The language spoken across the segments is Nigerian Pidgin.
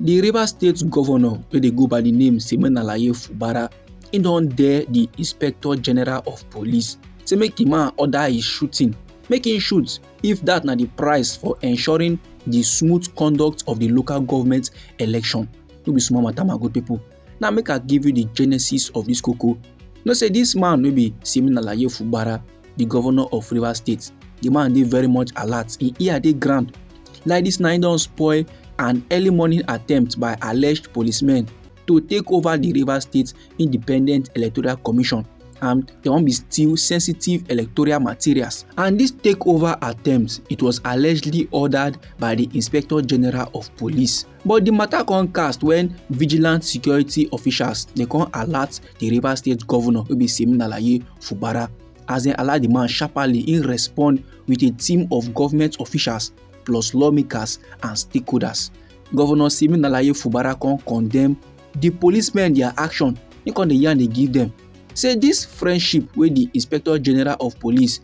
di rivers state govnor wey dey go by di name simenalaye fubara e don dare di inspector general of police say make di man order his shooting make him shoot if dat na di price for ensuring di smooth conduct of di local government election no be small matter my good pipo now make i give you the genesis of this koko know say this man no be siminalaye fubara the governor of rivers state the man dey very much alert im ear dey ground like this na im don spoil an early morning attempt by alleged policemen to take over the rivers state independent electoral commission and they wan be still sensitive electoral materials. And this takeover attempt, it was allegedly ordered by the Inspector General of Police, But di matter come cast when vigilant security officials dey come alert di Rivers State governor wey be Siminalayi Fubara as dem alert di man sharply im respond with a team of government officials plus lawmakers and stakeholders. Governor Siminalayi Fubara come condemn di policemen their action im come dey yarn dey give dem say dis friendship wey di inspector general of police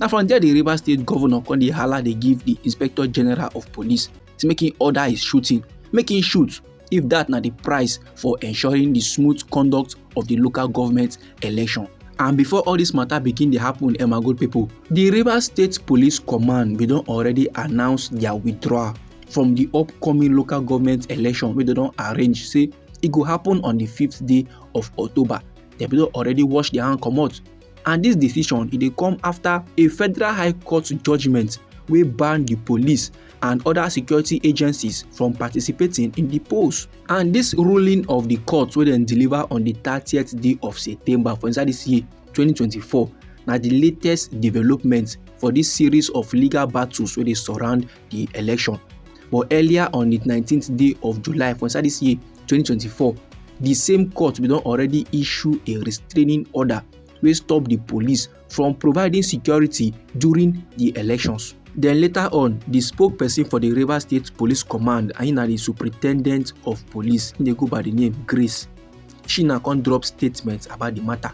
na from there di rivers state governor come dey hala dey give di inspector general of police say make im order his shooting make im shoot if dat na di price for ensuring di smooth conduct of di local government election and before all dis matter begin dey happen emma good pipo di rivers state police command bin don already announce dia withdrawal from di upcoming local government election wey dem don arrange say e go happen on di fifth day of october dem bin don already wash dia hand comot and dis decision e dey come afta a federal high court judgement wey ban di police and oda security agencies from participating in di polls and dis ruling of di court wey dem deliver on di thirtieth day of september for inside dis year 2024 na di latest development for dis series of legal battles wey dey surround di election but earlier on di 19th day of july for inside dis year 2024 di same court bin don already issue a restraining order wey stop di police from providing security during di elections. Then later on, the spokesperson for the Rivers State Police Command, and na the superintendent of police, he dey go by the name Grace. She na come drop statement about the matter.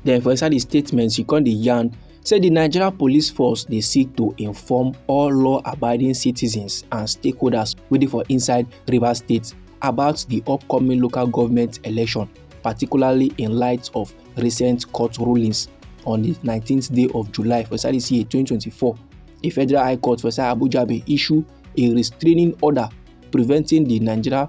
Then for inside the statement, she called the yarn say the Nigeria Police Force dey seek to inform all law-abiding citizens and stakeholders wey dey for inside Rivers State about the upcoming local government election, particularly in light of recent court rulings on the 19th day of July for inside this year 2024. A federal high court for inside Abuja bin issue a restraining order preventing the Nigeria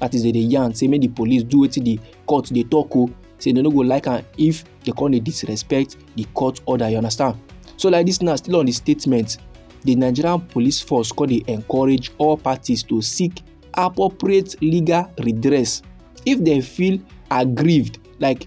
that is they dey yarn say make the police do wetin the court dey talk o say they no go like am if they come dey disrespect the court order you understand so like this now still on the statement the nigerian police force come dey encourage all parties to seek appropriate legal redress if dem feel aggrieved like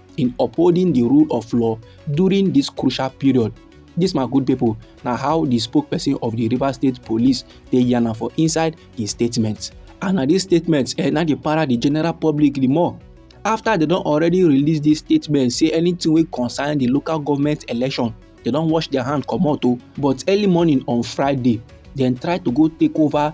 in upholding di rule of law during dis crucial period dis my good pipo na how di spokesperson of di rivers state police take yarn am for inside di statement and na dis statement eh, na dey para di general public di more afta dem don already release dis statement say anytin wey concern di local government election dem don wash dia hand comot o oh. but early morning on friday dem try to go take over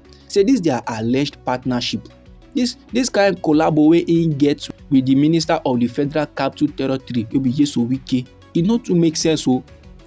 say dis dia alleged partnership dis dis kain collabo wey im get wit di minister of di federal capital territory wey be nyesom wike e no too make sense o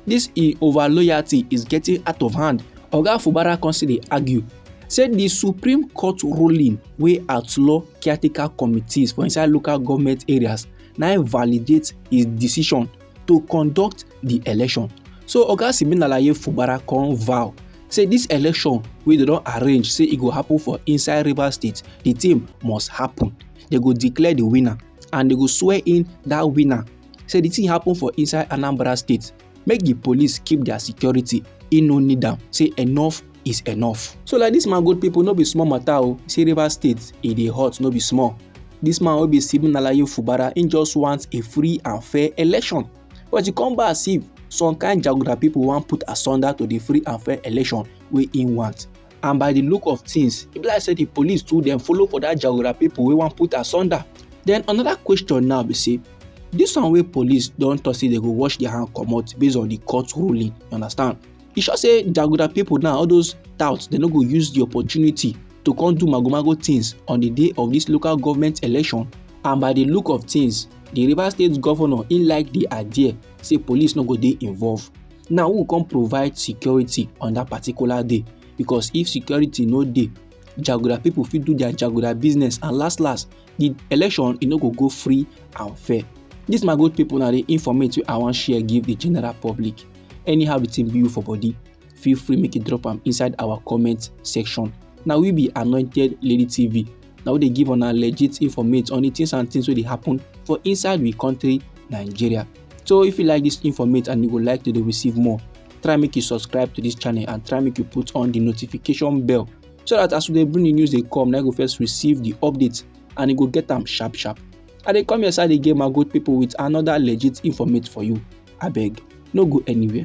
dis im over loyalty is getting out of hand oga fubara come still dey argue say di supreme court ruling wey outlaw caretaker committees for inside local goment areas na im validate im decision to conduct di election so oga siminalaye fubara come vow say dis election wey dem don arrange say e go happen for inside rivers state di team must happen dem go declare di winner and dem go swear in dat winner say di thing happen for inside anambra state make di police keep dia security e no need am say enough is enough. So like this man good people no be small matter o, oh. see Rivers State e dey hot no be small. This man wey be Stephen Alaye Fubara im just want a free and fair election but e come back as if some kind jaguda people wan put asunder to the free and fair election wey im want and by the look of things e be like say the police too dem follow for that jaguda people wey wan put asunder then another question now be say this one wey police don talk say they go wash their hand comot based on the court ruling you understand e sure say jaguda pipo now all those touts dem no go use di opportunity to come do magomago tins on di day of dis local government election and by di look of tins di rivers state governor im like di idea say police no go dey involved now who come provide security on dat particular day because if security no dey jaguda pipo fit do dia jaguda business and last last the election e no go go free and fair this my good people na the informate wey i wan share give the general public anyhow the thing be you for body feel free make you drop am inside our comment section na we be anointed lady tv na we dey give una legit informate on the things and things wey dey happen for inside we country nigeria so if you like this informate and you go like to dey receive more try make you subscribe to this channel and try make you put on the notification bell so that as we dey bring the news dey come na go first receive the update and e go get am sharp sharp i dey come your side again my good people with another legit informate for you abeg no go anywhere.